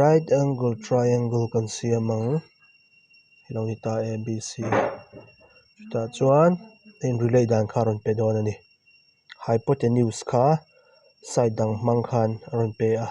right angle triangle kan siam ang helo ni ta a b c chutah chuan hei relay dan kha a rawn pe dawn a ni hypotenuse kha side dang hmang khan a rawn pe a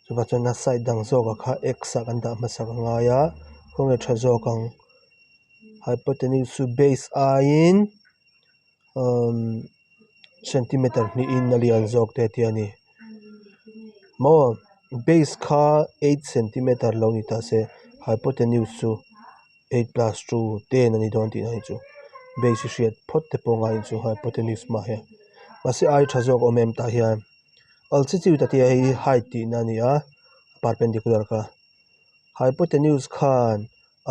chungah chuan side dang zawkah kha x a kan dah hmasa ka ngai a khawnge tha zawk ang hypotenuse chu base aiin-- umm centimeter hnihin a lian zawk te tia ni maw base kha eight centimeter lo ni ta se hypotenuse chu eight plus two ten a ni dawn tih hi chu base hi hriat phawt te pawh ngaiin chu hypotenuse hma hi mahse ai tha zawk awm em tah hian al chi chiu ta te hi height tihna a ni a perpendicular kha hypotenuse khan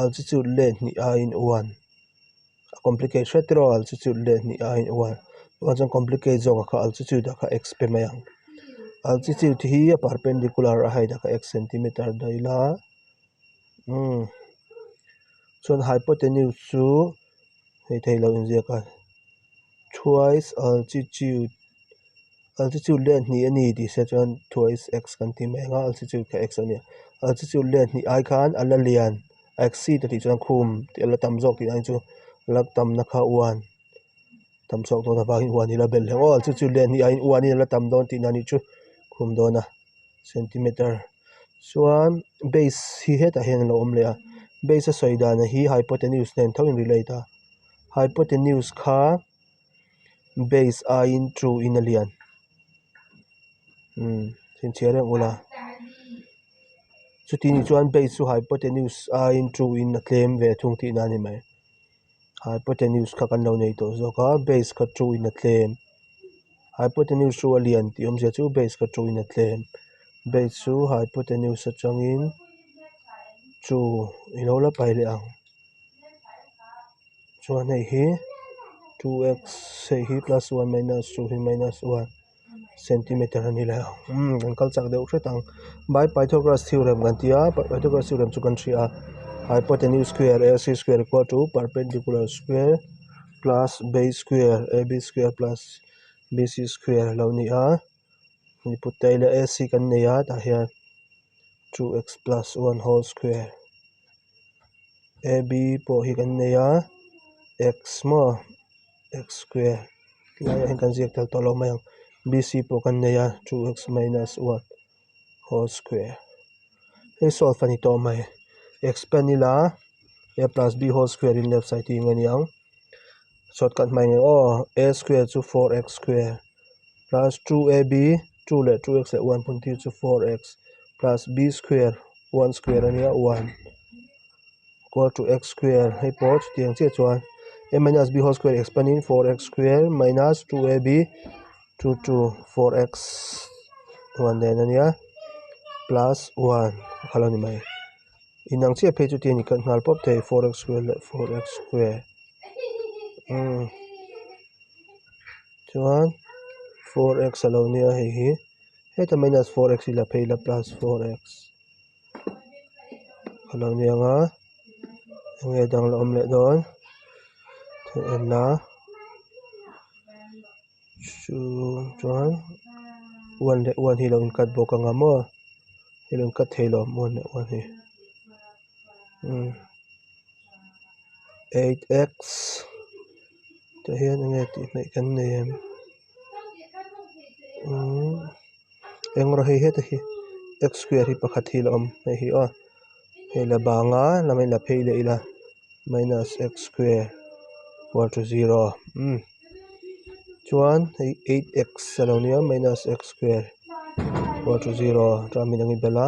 altitude leh hnih a in uan a complicate hriat tirua altitude leh hnih a in uan tah chuan complicate zawk ah kha altitude ah kha x pe mai ang altitude hi a perpendicular a heihi kha x centimeter daih la umm chuan hypotenuse chu-- hei te hi lo inziak a twice altitude altitude leh hnih a ni tih hriat chuan twice x kan tih mai ang a altitude kha x a ni a altitude leh hnih ai khan a la lian a exceed a tih chuan khum tih a la tam zawk tih a ni chu a la tam na kha uan tam chhuak dawn avangin uan hi a la bel hle maw altitude leh hnih aiin uanin a la tam dawn tihna nih chu khum dawn a. centimetre chuan base hi hetah hian a lo awm leh a base a sawi dan hi hypotenuse nen tho in relate a hypotenuse kha base aiin two in a lian umm chhinchhiah reng ula chutiang chuan base chu hypotenuse aiin two in a tlem ve thung tihna a ni mai. hypotenuse kha kan lo nei tawh zawk a base kha two in a tlem hypotenuse chu a lian tih awm zia chu base kha two in a tlem base chu hypotenuse atangin two i lo la pai leh ang chuan hei hi two x hei hi plus one minus two hi minus one . centimeter a ni leh a umm kan kal chak deuh hret ang by pythagoras theorem kan tia pythagoras theorem chu kan hria hypotenuse square a c square equal to perpendicular square plus base square a b square plus b c square a lo ni a mi put te aiin a a c kan nei a tah hian two x plus one whole square a b pawh hi kan nei a x maw. x square tlai ah hian kan ziak tel tawh loh mai ang b c pawh kan nei a two x minus one whole square hei solve a ni tawh mai x pen ila a plus b whole square in left side hi eng a ni ang shortcut hmai ngei awh a square chu four x square plus two a b two leh two x leh one phun phir chu four x plus b square one square a nia one. equal to x square hei pawh chuti ang chiah chuan a minus b whole square expand in four x square minus two a b two two four x hnuah nen a nia plus one a kha lo ni mai inang chiah phei chuti ani kal nghal pawp thei four x square leh four x square umm chuan four x a lo nia hei hi heta minus four x ila phei ila plus four x. a lo niang a eng nge dang la awm leh dawn thil enna hruuu chuan huan leh huan hi lo in cut bawk anga maw i lo in cut thei lo huan leh huan hi umm eight x tah hian enge tih hmel kan nei ang. umm eng rawh hei heta hi x square hi pakhat hi la awm hmeh hi awh hei la banga lam ahin la phei leh ila minus x square equal to zero umm chuan hei eight x alo nia minus x square equal to zero chua min ang i bel a.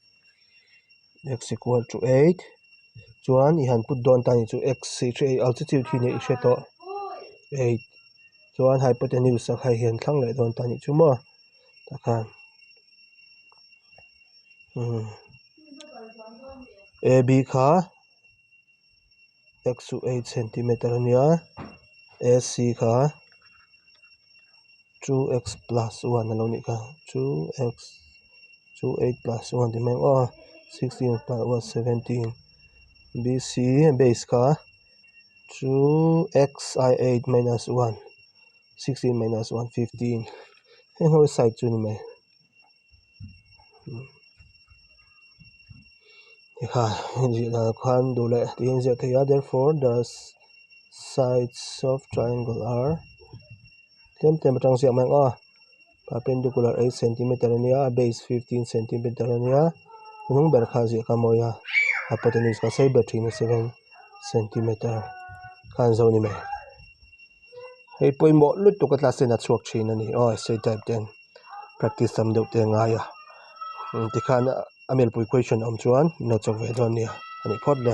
x equal to eight chuan i han put dawn atan ni chu x altitude hi nen i hre tawh eight chuan hypotenuse a khai hian thlang leh dawn ta ni chu maw takhan a b kha. x chu eight centimetre a nia ac kha two x plus one a lo ni ka two x chu eight plus one a ti mai ngawh a sixteen plus one seventeen bc base kha two x a eight minus one sixteen minus one fifteen heng ho side chu a ni mai. hekha zirah khan duh leh tih a inziak theih a therefore the sides of triangle are tlem tlem atang ziah mai ang a perpendicular eight centimetre a nia a base fifteen centimetre a nia a hnung ber kha ziah kha a mawi a hypotenuse kha sei ber thin a seven centimetre kha an zo a ni mai hei pawimawh lutuk a class ten a chhuak thin a ni aw essay type ten. practice tam deuh te ngai a tikhan a melpui question awm chuan inlo chawk ve dawn nia a nih phawt le.